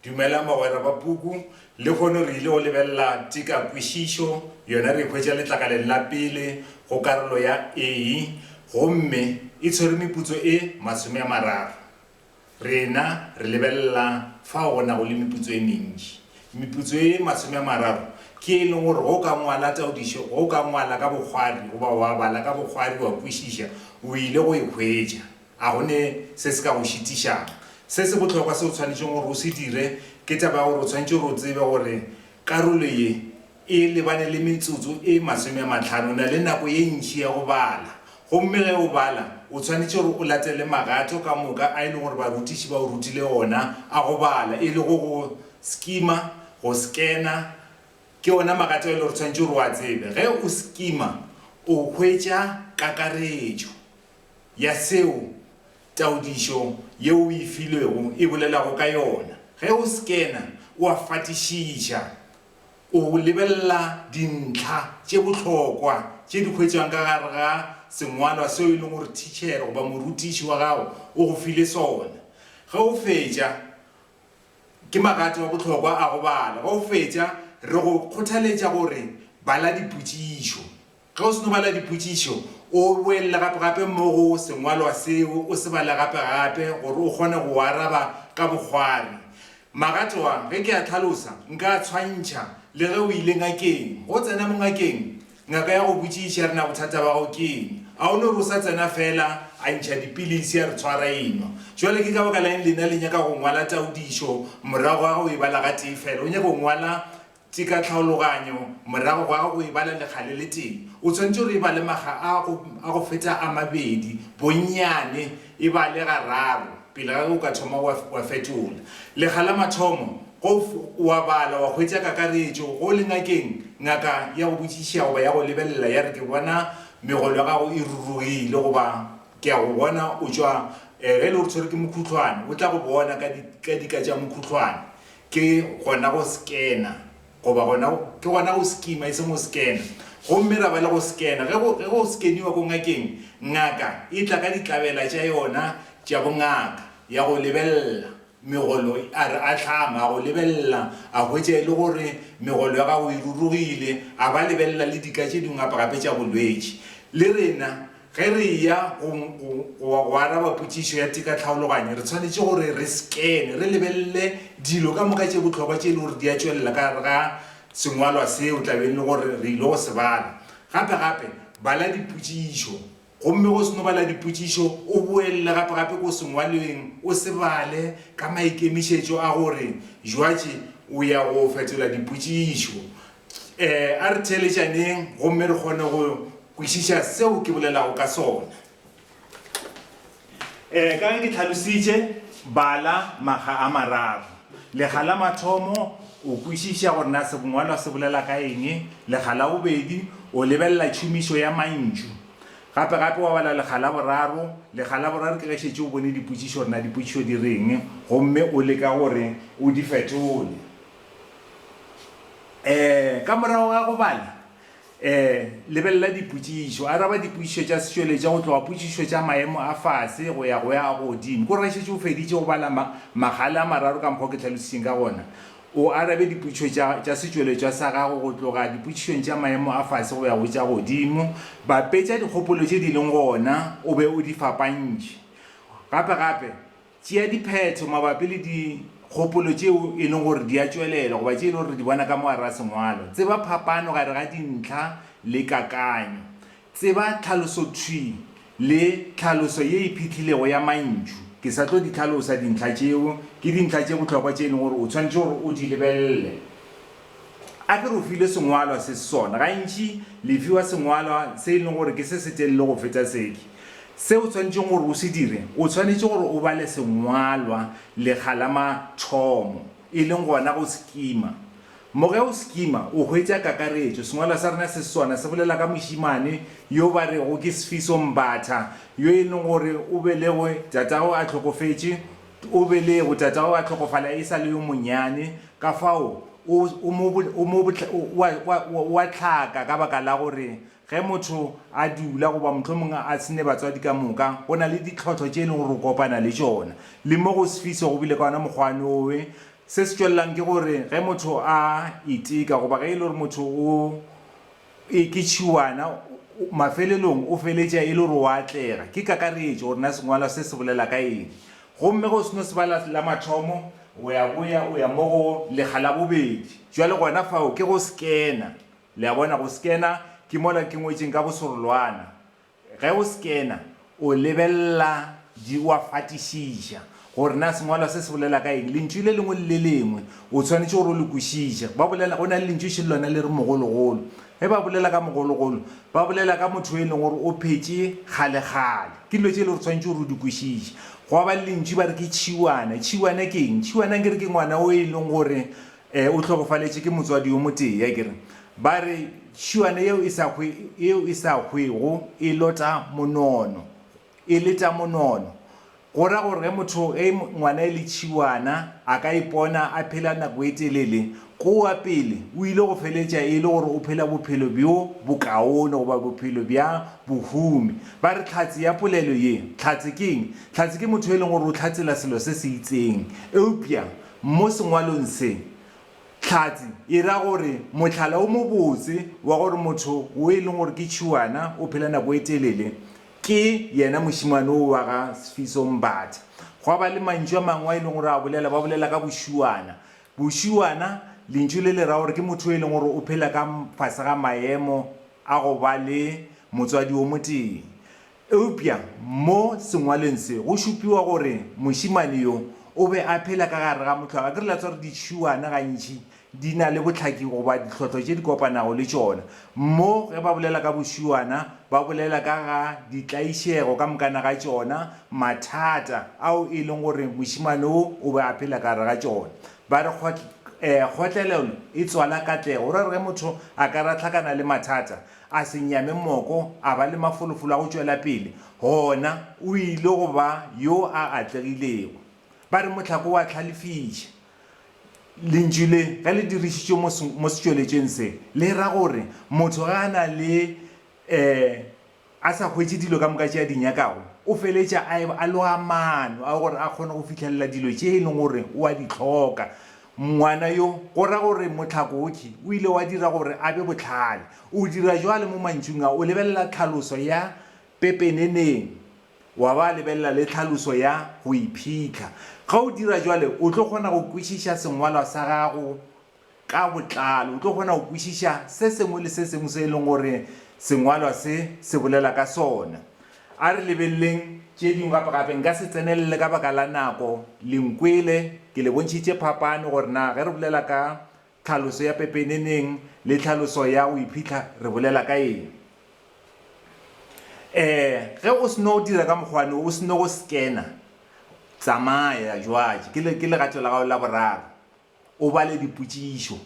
Dumelang bagwera ba puku. Lehono re ile go lebelela tikakwešišo yona re e hwetša letlakaleng la pele go karolo ya A gomme e tshwere meputso e masome a mararo. Rena re lebelela fao go nago le meputso e mentši. Meputso e masome a mararo ke ye e leng gore ge o ka ngwala taodišo, ge o ka ngwala ka bokgwari goba wa bala ka bokgwari wa kwešiša, o ile go e hwetša. A go ne se se ka go šitišago? Se se bohlokwa se o tshwanetšego gore o se dire ke taba ya gore o tshwanetše gore o tsebe gore karolo ye e lebane le metsotso e masome a mahlano. O na le nako ye ntši ya go bala, gomme ge o bala o tshwanetše gore o latele magato ka moka a e lego gore barutiši ba o rutile ona a go bala, e lego go skima, go skena. Ke ona magato a e lego gore o tshwanetše gore o a tsebe. Ge o skima o hwetša kakaretšo. ya seo taodišo yeo o e filwego e bolelago ka yona. Ge o skena, o a fatišiša. O lebelela dintlha tše bohlokwa tše di hwetšwang ka gare ga sengwalwa seo e lego gore thitšhere goba morutiši wa gago o go file sona. Ge o fetša, Ke magato a bohlokwa a go bala. Ge o fetša, re go kgothaletša gore bala dipotšišo. Ge o seno bala dipotšišo, o boele gape-gape mo go sengwalwa seo, o se bale gape-gape gore o kgone go araba ka bokgwari. Magato a, ge ke a hlalosa, nka a tshwantšha le ge o ile ngakeng. Ge o tsena mo ngakeng, ngaka ya go botšiša ya re, Na bothata ba gago ke eng? A o no re o sa tsena feela, a ntšha dipilisi, a re tshwara enwa. Bjale ke ka baka la'ng lena le nyaka go ngwala taodišo morago ga ge o e bala gatee feela? O nyaka go ngwala Tše ka tlhaologanyo, morago ga go e bala lekga le letee, o swanetše gore e bale makga a go a go feta a mabedi, bonnyane e bale gararo, pele ga ge o ka thoma wa wa fetola. Lekga la mathomo, go o a bala wa hwetša kakaretšo, go le ngakeng, ngaka ya go botšišiša goba ya go lebelela ya re ke bona megolo ya gago e rurugile goba ke a go bona o tšwa, ge e le gore tshwerwe ke mokhutlwane, o tla go bona ka di ka dika tša mokhutlwane. Ke gona go scanner, goba gona go, ke gona go skima e seng go scanner. Gomme ra ba le go scanner. Ge go, ge go scanniwa ko ngakeng, ngaka e tla ka ditlabela tša yona tša bongaka, ya go lebelela megolo, a re ahlama, a go lebelela, a hwetša e le gore megolo ya gago e rurugile, a ba lebelela le dika tše dingwe gape-gape tša bolwetši. Le rena. Ge re eya go, go, go, go araba potšišo ya tekatlhaologanyo, re swanetše gore re skene, re lebelele dilo ka moka tše bohlokwa tše e le gore di a tšwelela ka gare ga sengwalwa seo tlabeng e le gore re ile go se bala. Gape, gape, bala dipotšišo. Gomme ge o seno bala dipotšišo, o boelele gape, gape ko sengwalweng, o se bale, ka maikemišetšo a gore jwatše o ya go fetola dipotšišo. Eh, a re theeletšaneng gomme re kgone go kwešiša seo ke bolelago ka sona. Eh, ka ge ke tlhalositše, bala makga a mararo. Lekga la mathomo, o kwešiša gore na sebongwalwa se bolela ka eng. Lekga la bobedi, o lebelela tšhomišo ya mantšu. Gape gape wa bala lekga la boraro. Lekga la boraro ke ge šetše o bone dipotšišo gore na dipotšišo di reng gomme o leka gore o di fetole. Ee, ka morago ga go bala, ee, lebelela dipotšišo. Araba dipotšišo tša setšweletša go tloga potšišo tša maemo a fase go ya go ya a godimo. Ke gore ge šetše o feditše go bala ma, magale a mararo ka mokgwa o ke hlalošitšeng ka gona, o arabe dipotšišo tša, tša setšweletšwa sa gago go tloga dipotšišong tša maemo a fase go ya go tša godimo. Bapetša dikgopolo tše di leng gona o be o di fapantšhe. Gape-gape, Tšea diphetho mabapi le dikgopolo tšeo e lego gore di a tšwelela goba tše e lego gore re di bona ka mo gare ga sengwalo. Tseba phapano gare ga dintlha le kakanyo. Tseba tlhalosothwi le tlhaloso ye e phihlilego ya mantšu. Ke sa tlo di hlalosa dintlha tšeo, ke dintlha tše bohlokwa tše e lego gore o swanetše gore o di lebelele A ke re o filwe sengwalwa se se sona. Gantši le fiwa sengwalwa se e leng gore ke se se telele go feta seke. Se o tshwanetšeng gore o se dire, o tshwanetše gore o bale sengwalwa lekga la mathomo, e leng gona go se kima. Mo ge o se kima, o hwetša kakaretšo. Sengwalwa sa rena se se sona se bolela ka mošemane yo ba rego ke Sfiso Mbatha, yo e leng gore o belegwe, tatago a hlokofetše, O belegwe, tatago a hlokofala e sa le yo monnyane, ka fao o, o mo, o mo, o a, o a, o a hlaka ka baka la gore ge motho a dula, goba mohlomong a se ne batswadi ka moka, go na le ditlhohlo tše e lego gore o kopana le tšona. Le mo go Swiss go bile ka wona mokgwane wowe. Se se tšwelelang ke gore ge motho a iteka, goba ge e le gore motho o, E, ke tšhiwana. O, mafelelong o feletša e le gore o a atlega. Ke kakaretšo gore na sengwalwa se se bolela ka eng. Gomme ge o seno se bala la mathomo, o ya boya o ya mo go lekga la bobedi. Bjale gona fao ke go skena. Le a bona, go skena ke mola ke ngwetšeng ka bosorolwana. Ge o skena, o lebelela di, o a fatišiša gore na sengwalwa se se bolela ka eng. Lentšu le lengwe le le lengwe o tshwanetše gore o le kwešiše. Ba bolela, go na le lentšu še lona le re mogologolo. Ge ba bolela ka mogologolo, ba bolela ka motho yo e leng gore o phetše kgalekgale. Ke dilo tše e le gore o tshwanetše gore o di kwešiše. Gwa ba le lentšu ba re ke tšhiwana. Tšhiwana ke eng? Tšhiwana nkere ke ngwana o e leng gore E, o hlokofaletše ke motswadi yo motee, a kere. Ba re, Tšhuane yeo e sa hwe, yeo e sa hwego e lota monono, e leta monono. Go ra gore ge motho, ge ngwana e le tšhiwana, a ka ipona a phela nako e telele, kua pele o ile go feletša e le gore o phela bophelo bjo bokaone goba bophelo bja bohumi. Ba re, Tlhatse ya polelo ye. Tlhatse ke eng? Tlhatse ke motho yo e leng gore o hlatsela selo se se itseng, eupša Mo sengwalong se, Tlhatsi e ra gore mohlala wo mobotse wa gore motho wo e leng gore ke tšhuana o phela nako e telele ke yena mošemane wo wa ga Sfiso Mbatha. Gwa ba le mantšu a mangwe a e leng gore a bolela, ba bolela ka bošuana. Bošuana lentšu le le ra gore ke motho yo e leng gore o phela ka fase ga maemo a go ba le motswadi wo motee. Eupša mo sengwalweng se go šupiwa gore mošemane yo o be a phela ka gare ga mohlwa. Ga ke re la tswa gore ditšhuwana gantši di na le bohlaki goba ditlhohlo tše di kopanago le tšona. Mo ge ba bolela ka bošuwana, ba bolela ka ga ditlaišego ka mokana ga tšona, mathata ao e leng gore mošemane wo o be a phela ka gare ga tšona. Ba re kgotlelelo e tswala katlego, go ra gore ge motho a ka re a hlakana le mathata, A se nyame moko, a ba le mafolofolo a go tšwela pele, gona o ile go ba yo a atlegilego. Ba re mohlako wa tlhalefiša. Lentšu le, ge le dirišitšwe mo, mo setšweletšweng se, le ra gore motho ge a na le, ee, a sa hwetše dilo ka moka tše a di nyakago, o feletša a eba a loga maano a gore a kgone go fihlelela dilo tše e lego gore o a di hloka. Ngwana yo, go ra gore mohlakotši, o ile wa dira gore a be bohlale. O dira bjale mo mantšung a, o lebelela tlhaloso ya pepeneneng, wa ba lebelela le tlhaloso ya go iphitlha. Ge o dira bjale, o tlo kgona go kwešiša sengwalwa sa gago ka botlalo. O tlo kgona go kwešiša se sengwe le se sengwe se e leng gore sengwalwa se se bolela ka sona. A re lebeleleng tše dingwe gape-gape. Nka se tsenelele ka baka la nako. Le nkwele ke le bontšhitše phapano gore na ge re bolela ka tlhaloso ya pepeneneng le tlhaloso ya go iphitlha re bolela ka eng. Ee, ge o seno dira ka mokgwane wo, o seno go scanner, tsamaya jwale, ke legato la gago la boraro. O bale dipotšišo.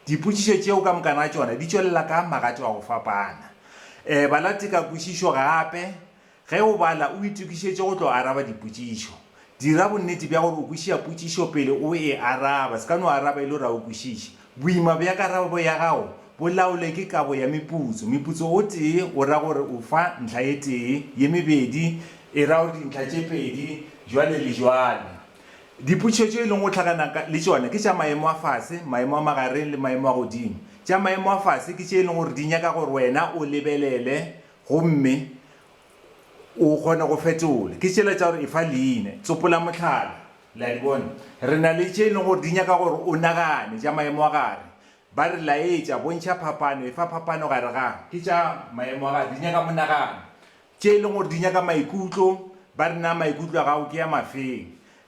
Dipotšišo tšeo ka moka na tšona di tšwelela ka magato a go fapana. E bala tekakušišo gape. Ge o bala, o itokišetše go tlo araba dipotšišo. Dira bonnete bja gore o kwešiša potšišo pele o e araba, se ka no araba e le gore ga o kwešiše. Boima bja karabo ya gago bo laolwe ke kabo ya meputso. Meputso o tee o ra gore o fa ntlha e tee, ye mebedi e ra gore dintlha tše pedi, jwale le jwale. Diputšhetšo e leng go hlagana le tšona ke tša maemo a fase, maemo a magareng le maemo a godimo. Tša maemo a fase ke tše e leng gore di nyaka gore wena o lebelele gomme o kgone go fetola. Ke tšela tša gore e fa leina. Tsopola mohlala. Le a di bona? Re na le tše e leng gore di nyaka gore o nagane, tša maemo a gare. Ba re laetša, bontšha phapano, efa phapano gare ga. Ke tša maemo a gare, di nyaka monagano. tše e leng gore di nyaka maikutlo, ba re na maikutlo a gago ke a mafeng.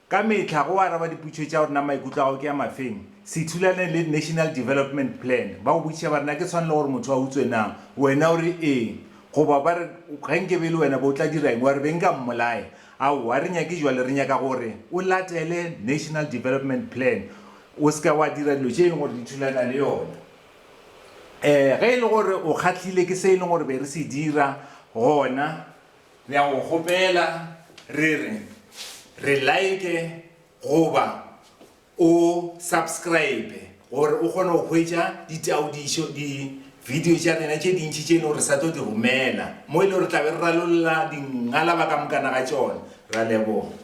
Ka mehla go araba dipotšišo tša gore na maikutlo a gago ke a mafeng, se thulane le National Development Plan, ba go botšiša ba re na ke tshwanelo gore motho a utswe na, wena o re ee, goba ba re ge nke be e le wena be o tla dira eng, wa re be nka mmolaya. Aowa, a re nyake jwalo, re nyaka gore o latele National Development Plan, o se ka wa dira dilo tše e leng gore di thulana le yona. Ee, ge e le gore o kgahlile ke se e leng gore be re se dira, gona re a go kgopela re re, re like goba o subscribe gore o kgone go hwetša ditaodišo, di-video tša rena tše dintši tše e leng gore re sa tlo di romela, mo e leng gore re tla be re ralolla dingalaba ka mokana ga tšona. Re a leboga.